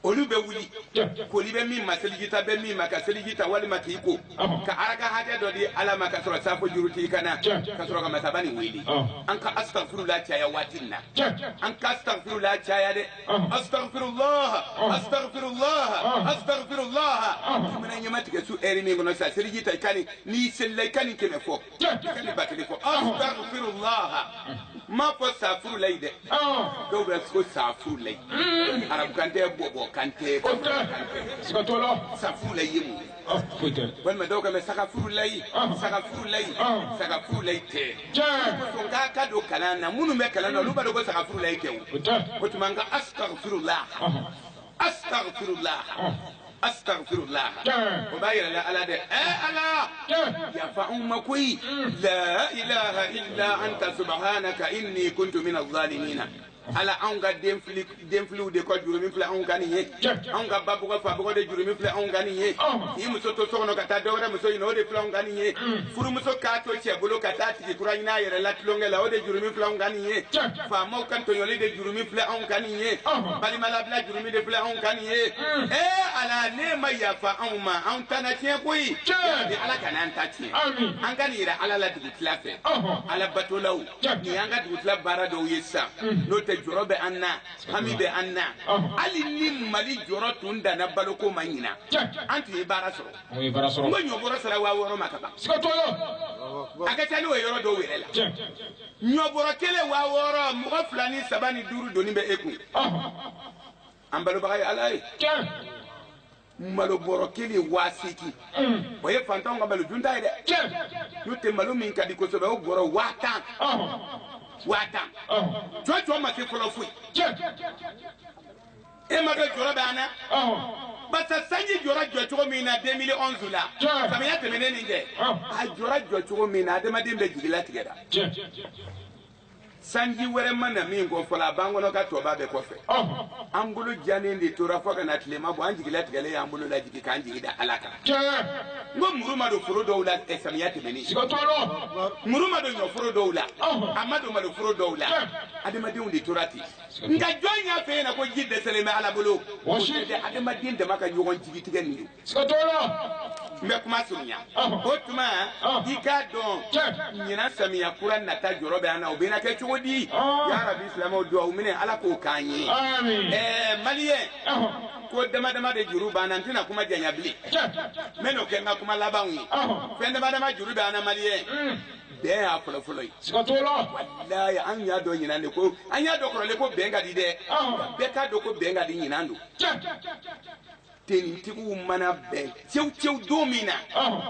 olu bɛ wuli koli bɛ min ma seliji ta bɛ min ma ka seliji ta walima k'i ko ka araka hakɛ dɔ di ala ma ka sɔrɔ safo juru t'i kan na ka sɔrɔ ka masaba nin wele an ka astafurula caya waati nin na an ka astafurula caya dɛ astafurulaha astafurulaha astafurulaha i mana ɲɛma tigɛ su ɛri min kɔnɔ sa seliji ta i ka nin n'i selila i ka nin kɛmɛ fɔ ka nin ba kelen ko asitagfirulaha n m'a fɔ saafurulayi dɛ dɔw bɛ ko saafurulayi arabu kan tɛ bɔbɔ kan tɛ siga t'o la saafurulayi ye mun ye walima dɔw kan bɛ sagafurulayi sagafurulayi sagafurulayi tɛ ko nka ka don kalan na minnu bɛ kalan na olu b'a dɔn ko sagafurulayi tɛ o o tuma an ka asitagfirulaha asitagfirulaha. asitafurula o b'a yira ala la dɛ ɛ ala yafa anw ma koyi la ilaha illa anta subhanaka inni kuntu min azalimina ala anw ka denfili denfiliw de ka jurumi filɛ anw kan nin ye anw ka ba bugɔ fa bugɔ de jurumi filɛ anw kan nin ye k'i muso to so kɔnɔ ka taa dɔwɛrɛ muso ɲini o de filɛ anw kan nin ye furumuso k'a to cɛ bolo ka taa tigi kura ɲini a yɛrɛ la tulonkɛ la o de jurumi filɛ anw kan nin ye faamaw ka tɔɲɔli de jurumi filɛ anw kan nin ye balimalabila jurumi de filɛ anw kan nin ye ee ala ne ma yafa anw ma anw ta na tiɲɛ koyi bi ala kana an ta tiɲɛ an ka nin yira ala la dugutila fɛ ala batolaw nin y'an ka dugutila baara dɔw ye sisan n'o tɛ jɔrɔ bɛ an na hami bɛ an na hali ni mali jɔrɔ tun danna baloko ma ɲinan an tun ye baara sɔrɔ n ko ɲɔ bɔrɔ sera waa wɔɔrɔ ma ka ban a ka ca n'o ye yɔrɔ dɔw yɛrɛ la ɲɔbɔrɔ kelen waa wɔɔrɔ mɔgɔ fila ni saba ni duuru doni bɛ e kun an balobaga ye ala ye malo bɔrɔ kelen waa seegin o ye fantanw ka malo dunta ye dɛ n'o tɛ malo min ka di kosɛbɛ o bɔrɔ waa tan waa tan jɔjɔ ma se fɔlɔ foyi e ma kɛ jɔrɔ bɛ an na basa sanji jɔra jɔ cogo min na 2011 la samiya tɛmɛnen nin kɛ a jɔra jɔ cogo min na adamaden bɛɛ jigilatigɛra sanji wɛrɛ ma na min kɔ fɔlɔ a b'an kɔnɔ k'a tɔba bɛ kɔfɛ an bolo janen de tora fo ka na tilema bɔ an jigilatigɛlen y'an bolo lajigi k'an jigi da ala kan n ko muru ma don foro dɔw la eh, samiya tɛmɛni muru ma don ɲɔforo dɔw la a ma don malo foro dɔw la adamadenw de tora ten nka jɔn y'a f'e ɲɛna ko ji dɛsɛlen bɛ ala bolo o si tɛ adamaden dama ka ɲɔgɔn jigitigɛ nin ye n bɛ kuma surunya o tuma i k'a dɔn ɲinan samiya kura nata jɔrɔ bɛ an na o bɛna kɛ cogo di yarabi silamɛw duwawu minɛ ala k'o k'an ye ɛɛ maliyɛn ko dama dama de juru b'an na n tɛna kuma janya bilen n bɛn'o kɛ n ka kuma labanw ye fɛn dama dama juru bɛ an na maliyɛn bɛn y'a fɔlɔ fɔlɔ ye. siga t'o la. walayi an y'a dɔn ɲinan de ko an y'a dɔn kɔrɔlen ko bɛn ka di dɛ. bɛɛ k'a dɔn ko bɛn ka di ɲinan don. tenitigiw mana bɛn cew cew don min na.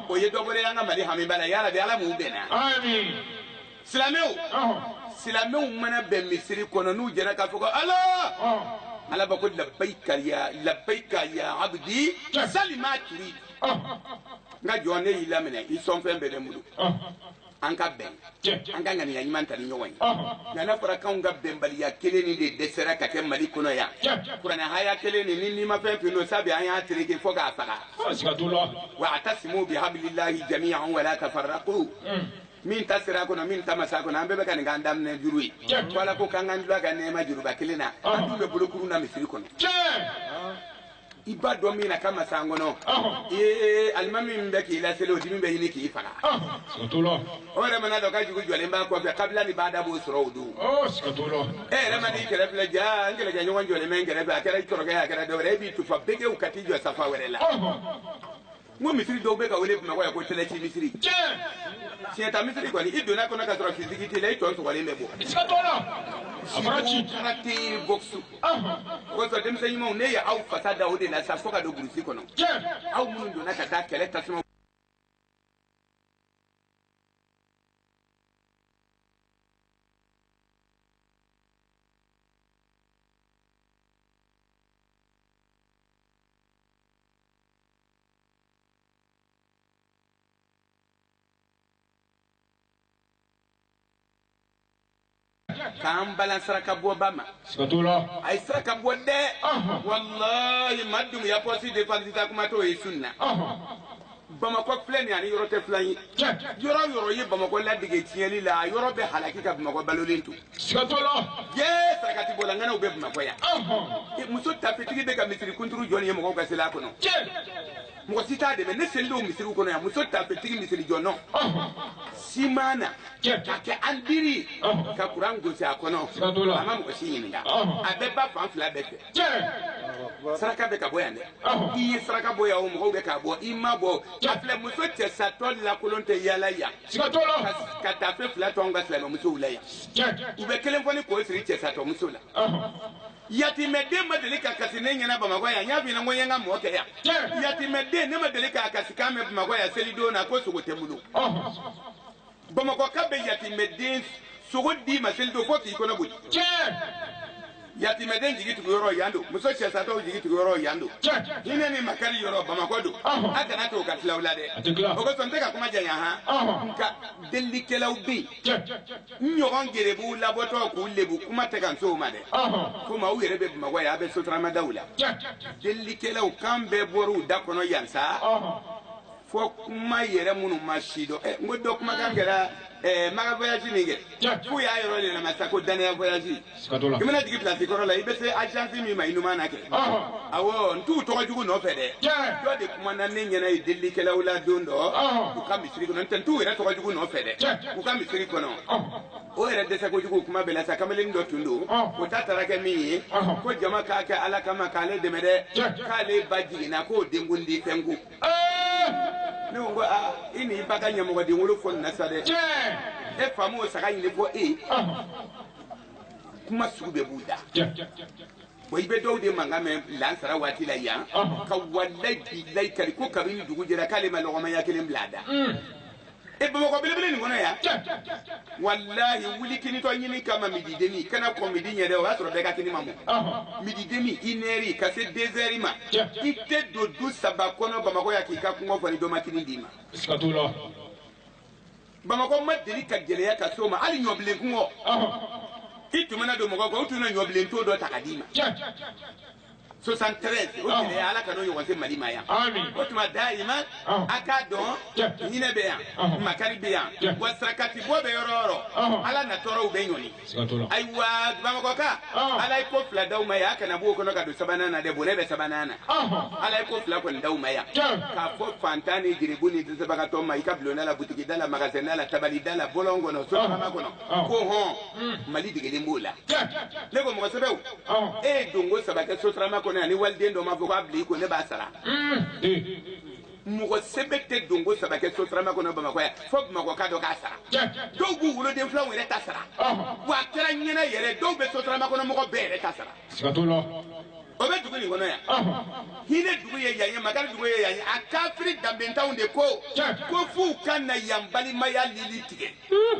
o ye dɔ bɔra an ka mali hamiba la yarabi ala m'u bɛnna. amiina. silamɛw mana bɛn misiri kɔnɔ n'u jɛra k'a fɔ ko ala. ala b'a ko labayika ya labayika ya abudi sali ma turid. n ka jɔn ne y'i laminɛ i sɔnfɛn bɛɛ bɛ n bolo an ka bɛn an ka ŋaniya ɲuman ta ni ɲɔgɔn ye nka n'a fɔra k'anw ka bɛnbaliya kelen nin de dɛsɛra ka kɛ mali kɔnɔ yan kuranɛ haya kelen nin ni n'i ma fɛn fɛn dɔn sabi an y'a tereke fo k'a faga wa atasimu bi habilillahi jamiyan wala tafarraqu min ta sera a kɔnɔ min ta ma se a kɔnɔ an bɛɛ bɛ ka nin k'an daminɛ juru ye ko ala ko k'an k'an dul'a ka nɛɛma juruba kelen na an dun bɛ bolokuru na misiri kɔnɔ i b'a dɔn min na ka masan kɔnɔ ee alimami min bɛ k'i laseli o dimi bɛ ɲini k'i faga siga t'o la o yɛrɛ man'a dɔn k'a jugu jɔlen b'a kɔfɛ kabila ni bada b'o sɔrɔ o don siga t'o la e yɛrɛ man'i kɛrɛ filɛ jaa n kɛlɛkɛɲɔgɔn jɔlen bɛ n kɛrɛfɛ a kɛra i kɔrɔkɛ a kɛra dɔwɛrɛ e b'i tufa begew ka t'i jɔ safa wɛrɛ la n ko misiri dɔw bɛ ka wele bamakɔ yan ko tɛlɛci misiri siɲɛta misiri ko n'i donna a kɔnɔ k'a sɔrɔ fiziki t'i la i tɔ sɔgɔlen bɛ bɔ siga t'o la karate bɔksu kosɔn denmisɛn ɲumanw ne ye aw fasa da o de la sa fo ka don burusi kɔnɔ aw minnu donna ka taa kɛlɛ tasuma k'an balan sarakabɔba ma siga t'o la a ye saraka bɔ dɛ Ɔhɔn. walayi ma dumuya pɔsi de palisita kuma t'o ye sun na Ɔhɔn. bamakɔ filɛ nin a ni yɔrɔ tɛ filan ye Tiɲɛ. yɔrɔ yɔrɔ ye bamakɔ ladege tiɲɛli la a yɔrɔ bɛ halaki ka bamakɔ balolen to Siga t'o la. Yee sarakati bɔla ŋanaw bɛ Bamakɔ yan. E, muso taafetigi bɛ ka misiri kunturu jɔ nin ye mɔgɔw ka seli a kɔnɔ. Mɔgɔ si t'a dɛmɛ ne seli don misiriw kɔnɔ yan muso taafetigi misiri jɔ nɔ. Siman na ka kɛ an diri ka kuran gosi a kɔnɔ a ma mɔgɔ si ɲininka a bɛ ba fan fila bɛɛ fɛ. Saraka bɛ ka bɔ yan dɛ. I ye saraka bɔ yan o mɔgɔw bɛ k'a bɔ i ma bɔ a filɛ muso cɛsatɔ lakolon tɛ yaala yan. siga t'o la ka ka taafe fila to anw ka silamɛmusow la yan tiɲɛ u bɛ kelen foni k'o siri cɛsatɔmuso la ɔhɔn. yatimɛden ma deli ka kasi ne ɲɛna bamakɔ yan n y'a f'i ɲɛna ko n ye n ka mɔɔ kɛ yan tiɲɛ yatimɛden ne ma deli k'a kasikan mɛn bamakɔ yan selidon na ko sogo tɛ n bolo ɔhɔn. bamakɔka bɛ yatimɛden sogo d'i ma selidon fo k'i kɔnɔ boli tiɲɛ yatimɛden jigi tugu yɔrɔ yan don muso cɛsatɔw jigi tugu yɔrɔ yan don hinɛ ni makari yɔrɔ bamakɔ don a kana to ka tila aw la dɛ o kosɔn n tɛ ka kuma janya han nka delilikɛlaw bɛ yen n ɲɔgɔn gerebuw labɔtɔ k'u lebu kuma tɛ ka n s'o ma dɛ komi aw yɛrɛ bɛ bamakɔ yan a bɛ sotaramadaw la delilikɛlaw kan bɛɛ bɔr'u da kɔnɔ yan sa fo kuma yɛrɛ minnu ma si dɔn ɛ n ko dɔ kumakan kɛra ɛɛ maka voyage min kɛ k'u y'a yɔrɔ de lamɛn sa ko dannaya voyage i mana jigin pilasi kɔrɔ la i bɛ se agence min ma i numan na kɛ awɔ n t'u tɔgɔ jugu nɔfɛ dɛ dɔ de kumana ne ɲɛna ye delilikɛlaw la don dɔ u ka misiri kɔnɔ n tɛ n t'u yɛrɛ tɔgɔ jugu nɔfɛ dɛ u ka misiri kɔnɔ o yɛrɛ dɛsɛ kojugu kuma bɛɛ la sa kamalen dɔ tun don o ta taara kɛ min ye ko jama k'a kɛ ala kama k'ale dɛmɛ dɛ k'ale ba jiginna k'o denkundi fɛn ko ne ko ko aa i n'i ba ka ɲamɔgɔden wolo fɔ nin na sa dɛ e fa m'o saga ɲini fo e kuma sugu bɛɛ b'u da bon i bɛ dɔw de mankan mɛn lansara waati la yan ka walayi bilayi kari ko kabini dugu jɛra k'ale ma lɔgɔma ɲɛ kelen bila a da e bamakɔ belebele nin kɔnɔ yan walahi wuli kinitɔ ɲini kama midi demi kana kɔn midi ɲɛ dɛ o y'a sɔrɔ bɛɛ ka kini ma mɔ midi demi une heure ka se deux heures ma i tɛ don du saba kɔnɔ bamakɔ yan k'i ka kɔngɔ fɔ ni dɔ ma kini d'i ma bamakɔ ma deli ka gɛlɛya ka s'o ma hali ɲɔbilen kɔngɔ i tun mana don mɔgɔ kan u tun na ɲɔbilen to dɔ ta ka d'i ma soixante-treize o gɛlɛya ala kan'o ɲɔgɔn se mali ma yan o tuma dayima a k'a dɔn hinɛ bɛ yan makari bɛ yan wa sarakati bɔ bɛ yɔrɔ o yɔrɔ ala na tɔɔrɔw bɛɛ ɲɔni ayiwa bamakɔka ala ye ko fila d'aw ma yan a kana b'o kɔnɔ ka don sabanan na dɛ bonɛ bɛ sabanan na ala ye ko fila kɔni d'aw ma yan k'a fɔ fantan ni giribu ni dɛsɛbagatɔ ma i ka bulonda la butigida la magasɛnda la tabalida la bɔlɔn kɔnɔ sotarama kɔnɔ Ɔ. ko hɔn Mm. mali degelen b'o la Tiɲɛ. ne ko mɔgɔ sɛbɛw Ɔ. e ye donko saba kɛ sotarama kɔnɔ yan ni waliden dɔ ma fɔ k'a bila i ko ne b'a sara Mm. Ee. mɔgɔ sɛbɛ tɛ donko saba kɛ sotarama kɔnɔ bamakɔ yan fo bamakɔ ka dɔ k'a sara Tiɲɛ. dɔw b'u woloden filaw yɛrɛ ta sara Ɔhɔn. wa a kɛra ɲɛna yɛrɛ dɔw bɛ sotarama kɔnɔ mɔgɔ bɛɛ yɛrɛ ta sara siga t'o la o bɛ dugu nin kɔnɔ yan ɔhɔn hinɛ dugu ye yan ye makari dugu ye yan ye a kafiri danbentanw de ko Tiɲɛ. ko f'u ka na yan balimaya lili tigɛ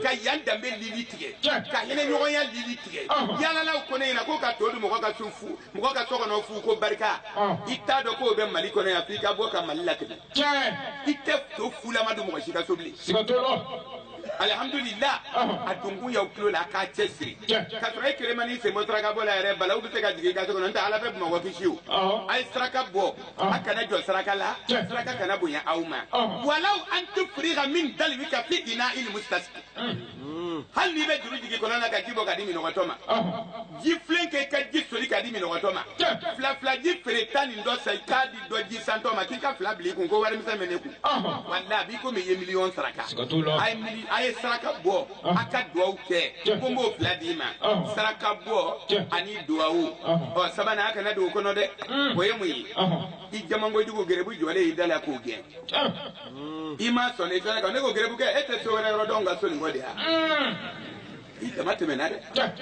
ka yan danbe lili tigɛ Tiɲɛ. ka hinɛ ɲɔgɔnya lili tigɛ Ɔhɔn. yalalaw ko ne ɲɛna ko ka to dun mɔgɔ ka so fu mɔgɔ ka so kɔnɔ fu ko barika Ɔhɔn. i t'a dɔn k'o bɛ mali kɔnɔ yan f'i ka bɔ ka mali latɛmɛ tiɲɛ i tɛ to fulama dun mɔgɔ si ka so bilen siga t'o la alihamudulila Ɔhɔn. a donkun y'aw tulo la a k'a cɛ siri Tiɲɛ. ka sɔrɔ e kelen man'i sen bɔ saraka bɔ la yɛrɛ balawu bɛ se ka jigin i ka so kɔnɔ n'o tɛ ala bɛ bamakɔ kisi o Ɔhɔn. a ye saraka bɔ Ɔhɔn. a kana jɔ saraka la Tiɲɛ. saraka kana bonya aw ma Ɔhɔn. walaw an tufriga min dalwika fi ina'il mustasqi hali n'i bɛ juru jigin kɔlɔn na ka ji bɔ ka di minɔgɔtɔ ma ji filen kɛ i ka ji soli ka di minɔgɔtɔ ma Tiɲɛ. filafila ji feereta nin dɔ san i k'a di dɔ ji santɔ ma k'i ka fila bila i kun ko warimisɛn bɛ ne kun walayi a b'i komi i ye miliyɔn saraka a ye mili a ye saraka bɔ a ka duwawu kɛ ko n b'o fila d'i ma saraka bɔ ani duwawu ɔ sabanan a kana don o kɔnɔ dɛ o ye mun ye i jamankojugu gerebu jɔlen y'i da la k'o gɛn i m'a sɔn i fɛnɛ kan ne ko gerebu kɛ e tɛ so wɛrɛ yɔrɔ dɔn n ka so nin kɔ de yan i dama tɛmɛna dɛ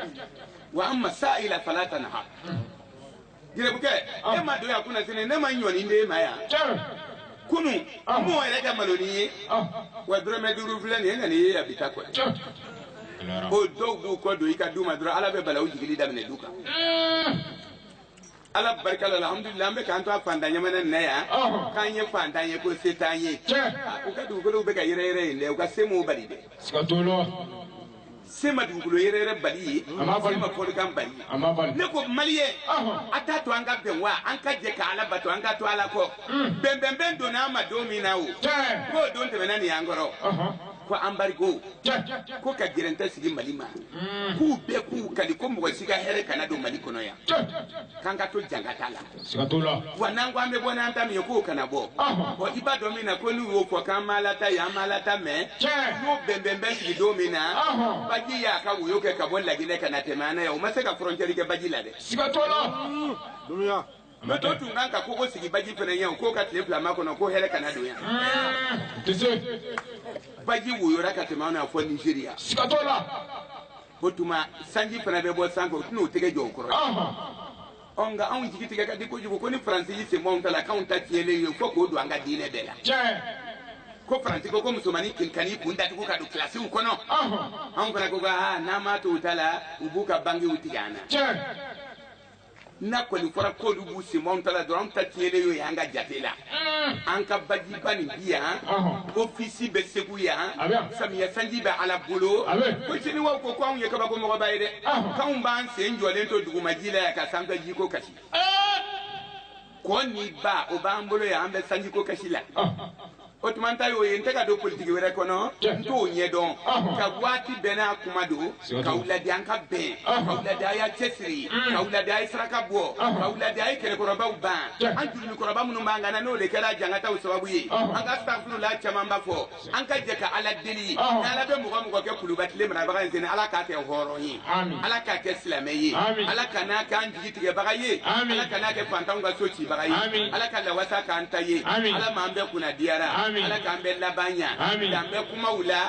wa amma sa'ila fala tanha Gerebu kɛ e ma don yan kunasini ne ma ɲɔnin d'e ma yan kunu mɔgɔ yɛrɛ ka malonin ye wa dɔrɔmɛ duuru filɛ nin ye nka nin ye yan bi ta kɔ o dɔw b'u kɔ don i ka du ma dɔrɔn ala bɛ balawu jigili daminɛ du kan ala barika la an an bɛ k'an to a fantan jamana nin na yan k'an ye fantan ye ko se t'an ye u ka dugukolo bɛ ka yɛrɛyɛrɛ yen dɛ u ka se m'o bali dɛ se ma dugukolo yɛrɛyɛrɛ bali ye A ma bali. se ma fɔlikan bali ye A ma bali. ne ko maliyɛn Ɔhɔn. a t'a to an ka bɛn wa an ka jɛ ka ala bato an ka to ala kɔ bɛnbɛnbɛn donna an ma don min na o Tiɲɛ. k'o don tɛmɛna nin y'an kɔrɔ Ɔhɔn. ko anbarigo Tiɲɛ. ko ka gɛrɛntɛ sigi mali ma k'u bɛɛ k'u kali ko mɔgɔ si ka hɛrɛ kana don mali kɔnɔ yan Tiɲɛ. k'an ka to jankata la siga t'o la wa n'an ko an bɛ bɔ n'an ta min ye k'o kana bɔ Ɔhɔn. bɔn i b'a dɔn min na ko n'u y'o fɔ k'an m'ala ta ye an m'ala ta mɛ Tiɲɛ. n'o bɛnbɛn bɛ sigi don min na Ɔhɔn. baji y'a ka woyo kɛ ka bɔ laginɛ ka na tɛmɛ an na yan o ma se ka fɔrɔncɛri kɛ baji la dɛ siga t'o la mɛ dɔ tun kan ka kogo sigi baji fana yan k'o ka tile fila makɔnɔ ko hɛrɛ kana don yan Ɛɛ, o tɛ se baji woyora ka tɛmɛ an na fo nizeriya siga t'o la o tuma sanji fana bɛ bɔ sanfɛ o tɛn'o tɛgɛ jɔ o kɔrɔ Ɔhɔn. ɔ nka anw jigi tigɛ ka di kojugu ko ni faransi y'i senbɔ anw ta la k'anw ta tiɲɛlen ye fo k'o don an ka diinɛ bɛɛ la ko faransi ko ko musomannin kelen kan'i kun datugu ka don kilasiw kɔnɔ anw fana ko ka n'an m'a to u ta la u b'u ka bankiw tigɛ an na n'a kɔni fɔra k'olu b'u senbɔ anw ta la dɔrɔn anw ta tiɲɛlen y'o ye an ka jate la an ka bajiba nin bi yan ofisi bɛ segu yan samiya sanji bɛ ala bolo ko siniwaw ko ko anw ye kabako mɔgɔba ye dɛ k'anw b'an sen jɔlen to dugumaji la yan ka sanfɛ jiko kasi ko ni ba o b'an bolo yan an bɛ sanjiko kasi la o tuma n ta y'o ye n tɛ ka don politiki wɛrɛ kɔnɔ n t'o ɲɛdɔn nka waati bɛɛ n'a kuma don ka wuladi an ka bɛn ka wuladi a y'a cɛsiri ka wuladi a ye saraka bɔ ka wuladi a ye kɛlɛkɔrɔbaw ban an jurumu kɔrɔba minnu b'an kan na n'o de kɛra jangataw sababu ye an ka asitagafurula camanba fɔ an ka jɛ ka ala deli ni ala bɛ mɔgɔ o mɔgɔ kɛ kuluba tile marabaga nin sen in ala k'a kɛ hɔrɔn ye ala k'a kɛ silamɛ ye ala kan'a kɛ an jigi tigɛbaga ye ala kan'a kɛ fantanw ka so cibaga ye ala ka lawasa k'an ta ye ala m'an bɛɛ kunnadiyara ala k'an bɛɛ laban ɲa dan bɛ kumaw la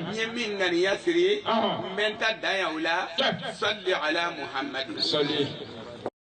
N ye min ŋaniya siri, ɔnhɔn, n bɛ n ta dan yan o la, salli ala Muhamadi